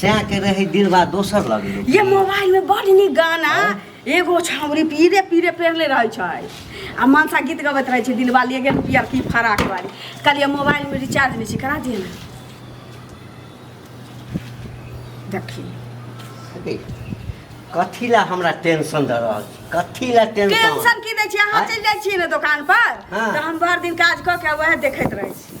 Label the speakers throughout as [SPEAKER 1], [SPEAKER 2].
[SPEAKER 1] सैह के रहे दिलवा दोसर लग लोग ये मोबाइल में बड़ नीक गाना एगो छावरी पीरे पीरे पेरले रहै छै आ मनसा गीत गबैत रहै छै दिलवा लिए गेल पियर की फराक वाली कहलिए मोबाइल में रिचार्ज नहीं छै करा दिए ना देखी अरे, कथी ला हमरा टेंशन दे रहल छी? कथी ला टेंशन टेंशन की दै छी अहाँ आँय? चलि जाइ छियै ने दोकान पर हाँ। तऽ हम भरि दिन काज कऽ के वएह देखैत रहै छी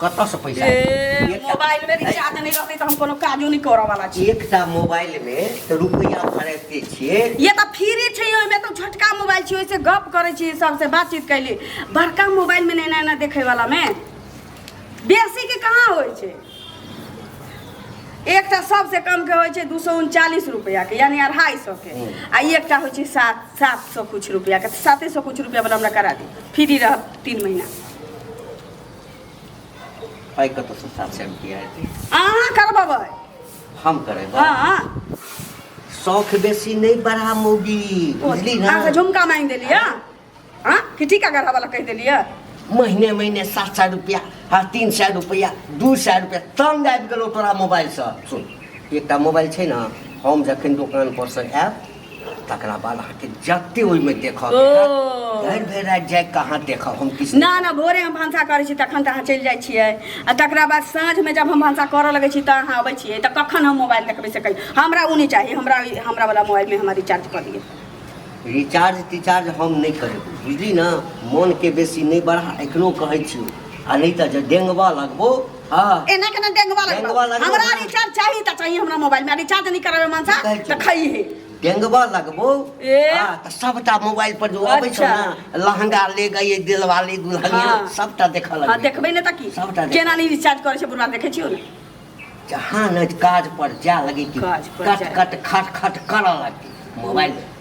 [SPEAKER 1] कतऽ से पैसा ए, मोबाइल में रिचार्ज नहीं रहते तो हम कोनो काजो नहीं करे वाला छी एकटा मोबाइल में तऽ रुपैआ भरते छियै ये तो फ्री छै ओहिमे तो छोटका मोबाइल छी ओहिसे गप करे छी सबसे बातचीत कैली बड़का मोबाइल में नैना ना देखे वाला में बेसी के कहाँ होइ छै एकटा सबसे कम के होइ छै दू सौ उनचालीस रुपया के यानी अढ़ाई सौ के हम्म। आ ई एकटा होइ छै सात सात सौ कुछ रुपया के साते सौ कुछ रुपया वाला हमरा करा दी फ्री रहब तीन महीना पाइ कतऽसँ सात सए रुपैआ हेतै अहाँ करबबै हम करेबै हँ शौख बेसी नहि बढ़ा मौगी बुझली ने अहाँके झुमका मांगि देलियै हँ कि टीका करबऽ लए कहि देलियै महीने महीने सात सए रुपैआ हँ तीन सए रुपैआ दू सए रुपैआ तंग आबि गेलौ तोरा मोबाइलसँ सुन एकटा मोबाइल छै ने हम जखन दोकानपर सँ आयब तकरा बाद अहाँके जते ओहिमे देखऽ के ओ। हैत, भरि भरि राति जाए कऽ अहाँ देखब हम किछु ना ना भोरे हम भनसा करै छी तखन तऽ अहाँ चलि जाइ छियै आ तकरा बाद साँझमे जब हम भनसा करऽ लगै छी तऽ अहाँ अबै छियै तऽ कखन हम मोबाइल देखबै से कही हमरा ओ नहि चाही हमरा हमरा वाला मोबाइलमे हमरा रिचार्ज कऽ दिअ रिचार्ज तिचार्ज हम नहि करेब बुझली ने मोनके बेसी नहि बढ़ा एखनो कहै छी आ नहि तऽ जे डेंगबा लगबो हाँ एना केना डेंगवा लगबा डेंगवा लगबा। हमरा रिचार्ज चाही त चाही हमरा मोबाइल में रिचार्ज नहीं करावे मन सा कहै छै। त खई है डेंगवा लगबो ए। हाँ, तऽ सबटा मोबाइल पर जो अबै छौ अच्छा। ने लहंगा ले गई दिलवाली दुल्हनिया हाँ। सबटा देखऽ हां लगबै देखबै ने त की सबटा देख। केना नहीं रिचार्ज करे छै बुढ़वा देखै छियो ने जहाँ ने काज पर जा लगी कि काज पर कट जा। कट खट खट करऽ लगी मोबाइल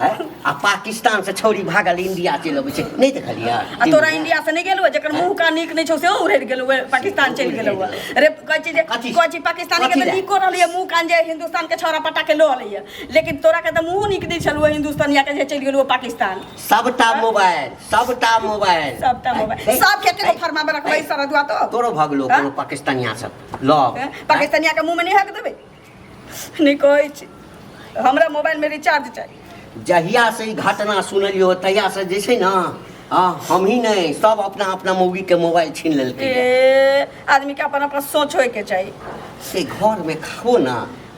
[SPEAKER 1] हैं? आ पाकिस्तान से छोड़ी भागल इंडिया चलि अबै छै नहि देखलियै आ तोरा इंडिया से नहीं गेलू जकर मुंह का नीक नहीं छौ से उड़ि गेलू पाकिस्तान चलि गेलू रे कहै छी जे कथी? कहै छी पाकिस्तानी के कथी तऽ लए? नीको रहलै मुंह कान जे हिंदुस्तान के छौरा पटा के लऽ अलै लेकिन तोरा के तऽ मुंह नीक नहि छलू हिंदुस्तानिया के जे चलि गेलू पाकिस्तान सबटा मोबाइल सबटा मोबाइल सबटा हैं? मोबाइल हैं? सब के के फरमा में रखबै सरदुआ तो तोरो भगलो हैं? कोनो पाकिस्तानिया सब लऽ हैं? पाकिस्तानिया के मुंह में नहीं हक देबै नहि कहै छी हमरा मोबाइलमे रिचार्ज चाही जहियासँ ई घटना सुनलियो तहियासँ जे छै ने हँ हमही नहि सब अपना अपना मौगीके मोबाइल छीन लेलकै ए आदमीके अपन अपन सोच होइके चाही से घरमे खाओ ने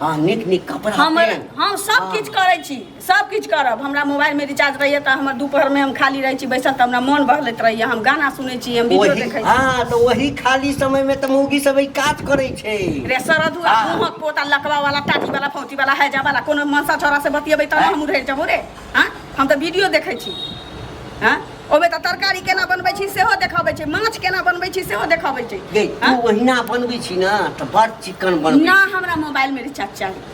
[SPEAKER 1] हँ नीक नीक कपड़ा हमर पहिर। हम सब हँ। किछु करै छी सब किछु करब हमरा मोबाइल में रिचार्ज रहैया तऽ हमर दुपहर में हम खाली रहै छी बैसल तऽ हमरा मन बहलैत रहैया हम गाना सुनै छी हम वीडियो ओही देखै छी हाँ तऽ ओही खाली समय में तऽ मौगी सब ई काज करै छै रे सरद हुआ हाँ। मुहक पोता लकवा वाला टाटी वाला फौती वाला हैजा वाला कोनो मनसा छोरा से बतियेबै तब हाँ। हम उधर जेबो रे हाँ हम तऽ वीडियो देखै छी हाँ ओमे तऽ तरकारी केना बनबै छी सेहो देखाबै छै माछ केना बनबै छी सेहो देखाबै छै गे हाँ? तू ओहिना बनबै छी ना तऽ बड़ चिकन बनबै ना हमरा मोबाइल में रिचार्ज चाही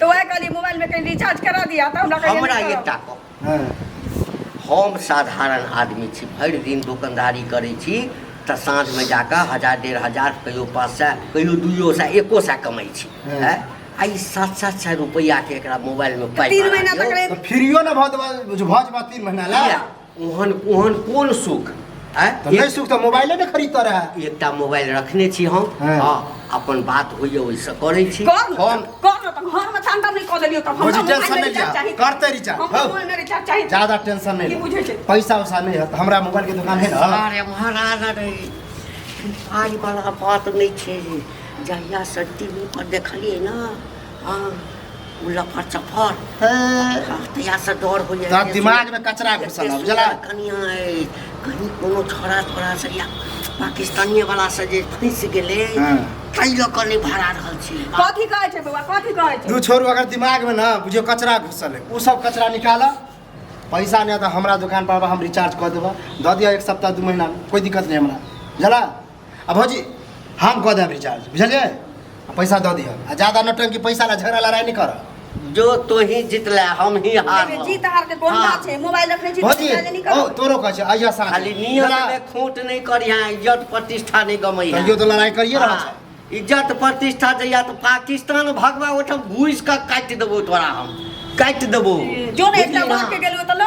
[SPEAKER 1] तो वह कहली मोबाइल में कहीं रिचार्ज करा दिया तो हमरा कहीं हमरा ये ताको हाँ हम साधारण आदमी छी भरि दिन दुकानदारी करै छी तऽ साँझमे जाकऽ हजार डेढ़ हजार कहियो पाँच सए कहियो दुइयो सए एको सए कमाइ छी हँ। हैं? आ ई सात सात सए रुपैआके एकरा मोबाइलमे पाइ तीन महीना तक ले तो फिरियो ना बहुत भज भज बा तीन महीना ला किया? ओहन ओहन कोन सुख आँय? तऽ नहि सुख तऽ मोबाइले ने खरीदता रहए एकटा मोबाइल रखने छी हम हँ। हँ अपन बात होइए ओहिसँ करै छी कर न हम- त, कर न त, घरमे त अन्डर नहि कऽ देलियौ तब हमरा बुझी मोबाइल टेंशन नहि नहि लिअ रिचार्ज चाही। करते रिचार्ज हमरा हौ। मोबाइल नहि रिचार्ज चाही। ज्यादा टेंशन नहि की ले। बुझै छै? पैसा उसा नहि हत हमरा मोबाइल के दुकान है ना अरे महाराज अरे आइ वाला बात नहि छै जहिया से टीवी पर देखलियै ना उल्ला फर चफर तहिया से डर हो जाए तब दिमाग में कचरा घुसल अब जला कनिया है कहीं कोनो छोरा छोरा से या पाकिस्तानी वाला से जे फंस गेले हाँ। तई लोग कने भरा रहल छी कथी कहै छै बौआ कथी कहै छै दू छोरू अगर दिमाग में ना बुझियो कचरा घुसल है उ सब कचरा निकाला पैसा नहीं तो हमारा दुकान पर आबा, हम रिचार्ज कर देबा दऽ दिया एक सप्ताह दू महीना में कोई दिक्कत नहीं हमरा जला आ भौजी हम कऽ देब रिचार्ज बुझलियै आ पैसा दऽ दिअ आ ज्यादा नौटंकी पैसा ला झगड़ा लड़ाइ नहि करऽ जो तो ही जितले हम ही हार जीत हार के कोन बात छै मोबाइल रखै छी भौजी मोबाइल नहि ओ करब तोरो कहै छै अहिया साँझ खाली नियम जरा- में खोट नहीं करिया इज्जत प्रतिष्ठा नहीं गमैया कहियो तो लड़ाई करिए रहल छै हाँ, इज्जत प्रतिष्ठा जहिया तो पाकिस्तान भगवा ओठम घुस के काट देबो तोरा हम काट देबो जो ने एकटा बुझली बात ना? के गेलू त लो